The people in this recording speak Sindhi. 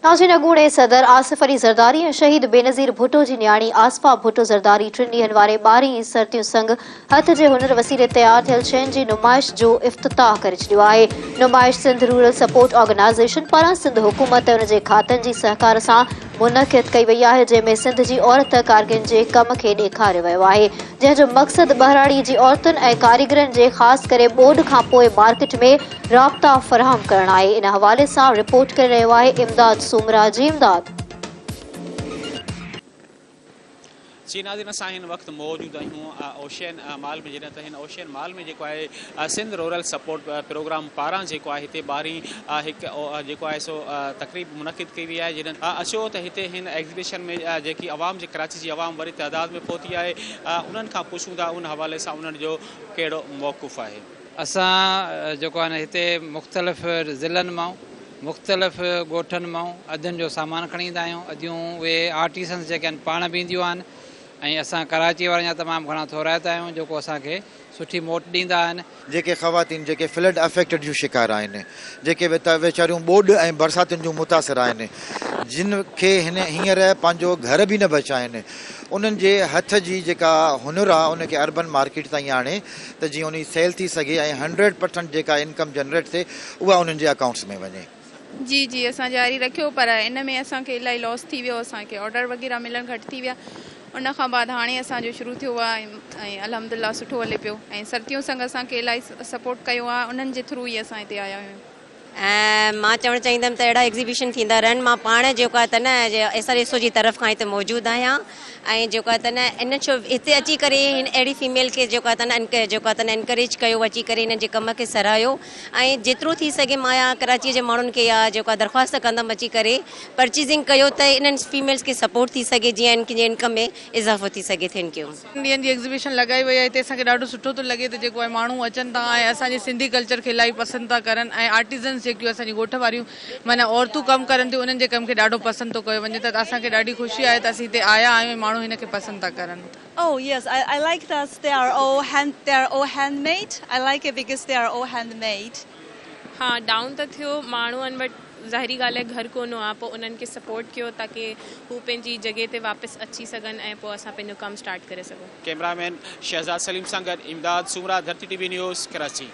تان جن اڳوڻي صدر آصف علي زرداري ۽ شهيد بينظير ڀٽو جي نياڻي آصفا ڀٽو زرداري ٽن ڏينهن واري ٻارهين سرتيون سنگ هٿ جي هنر وسيلي تيار ٿيل شين جي نمائش جو افتتاح ڪري ڇڏيو آهي نمائش سنڌ رورل سپورٽ آرگنائيزيشن پاران سنڌ حڪومت ۽ ان جي کاتن جي سهڪار سان منعقد ڪئي وئي آهي جنهن ۾ سنڌ جي عورت ڪارگن جي ڪم کي ڏيکاريو ويو آهي جنهن جو مقصد ٻهراڙي جي عورتن ۽ ڪاريگرن جي خاص ڪري ٻوڏ کانپوء مارڪيٽ ۾ رابطا فراهم ڪرڻ آهي ان حوالي سان رپورٽ ڪري رهيو آهي امداد سومرا جي امداد. جي ناظرين اسان هن وقت موجود آهيون اوشين مال ۾ جڏهن ته هن اوشين مال ۾ جيڪو آهي سنڌ رورل سپورٽ پروگرام پاران جيڪو آهي هتي ٻاهرين هڪ جيڪو آهي سو تقريب منعقد ڪئي وئي آهي جڏهن اچو ته هتي هن ايگزيبيشن ۾ جيڪي عوام جي ڪراچي جي عوام وڏي تعداد ۾ پهتي آهي انهن کان پڇون ٿا ان حوالي سان انهن جو ڪهڙو موقف آهي اسان جيڪو آهي نه هتي مختلف ضلعن مان مختلف ڳوٺن مان ادين جو سامان کڻي ايندا آهيون اديون اهي آرٽيسنس جيڪي آهن پاڻ به اينديون آهن ۽ اسان ڪراچي وارن جا تمام گهڻا ٿورائتا آهيون جيڪو اسان کي سٺي موٽ ڏيندا آهن. جيڪي خواتين جيڪي فلڊ افيڪٽ جون شڪار آهن جيڪي ويچاريون ٻوڏ ۽ برساتن جون متاثر آهن جن کي هينئر پنهنجو گهر به نه بچا آهن انهن جي هٿ جي جيڪا هنر آهي ان کي اربن مارڪيٽ تائين آڻي ته جيئن انهي سيل ٿي سگهي ۽ هنڊريڊ پرسنٽ جيڪا انڪم جنريٽ ٿئي اها انهن جي اڪائونٽس ۾ وڃي. جي جي اسان جاري رکيو پر ان ۾ اسان کي الائي لوس ٿي ويو اسان کي آرڊر وغيره ملڻ گهٽ ٿي ويا ان کان بعد هاڻي اسان جو شروع ٿيو آ ۽ الحمدالله سٺو هلي پيو ۽ سرتيون سنگ اسان کي الائي سپورٽ ڪيو آ انهن جي ٿرو ئي اسان هتي آيا آهيون. ۽ مان چوڻ چاهيندم ته اهڙا ايگزيبيشن ٿيندا رهن مان پاڻ جيڪو آهي ته نه ايس آر ايس او جي طرف کان هتي موجود آهيان ۽ جيڪو آهي ته نه ان شو هتي اچي ڪري هن اهڙي فيميل کي جيڪو آهي ته نه جيڪو آهي ته نه انڪريج ڪيو اچي ڪري هنن جي ڪم کي سراهيو ۽ جيترو ٿي سگهي مان يا ڪراچيء جي ماڻهن کي يا جيڪو آهي درخواست ڪندم اچي ڪري پرچيزنگ ڪيو ته انهن فيميلز کي سپورٽ ٿي سگهي جيئن هن کي انڪم ۾ اضافو ٿي سگهي ٿينڪ يو ٽن ڏينهن جي ايگزيبيشن لڳائي وئي آهي تنهن سان کي ڏاڍو سٺو ٿو لڳي ته جيڪو آهي ماڻهو اچن ٿا ۽ اسان جي سنڌي ڪلچر کي الائي پسند ٿا ڪرن ۽ آرٽيزنس جيڪيون اسان جي ڳوٺ واريون معنيٰ عورتون ڪم ڪرن ٿيون انهن جي ڪم کي ڏاڍو پسند ٿو ڪيو وڃي ته اسان کي ڏاڍي خوشي آهي ته اسين هتي آيا آهيون ۽ ماڻهو هن کي پسند ٿا ڪرن. Oh yes I I like that they are all hand they are all handmade I like it because they are all handmade. ها ڊائون ته ٿيو ماڻهن وٽ ظاهري ڳالهه آهي گهر ڪونه آ پو انهن کي سپورٽ ڪيو تاڪي هو پنهنجي جڳهه تي واپس اچي سگهن ۽ پو اسان پنهنجو ڪم اسٽارٽ ڪري سگهون. ڪيمرا مين شهزاد سليم سان گڏ Imdad Soomro Dharti TV news Karachi.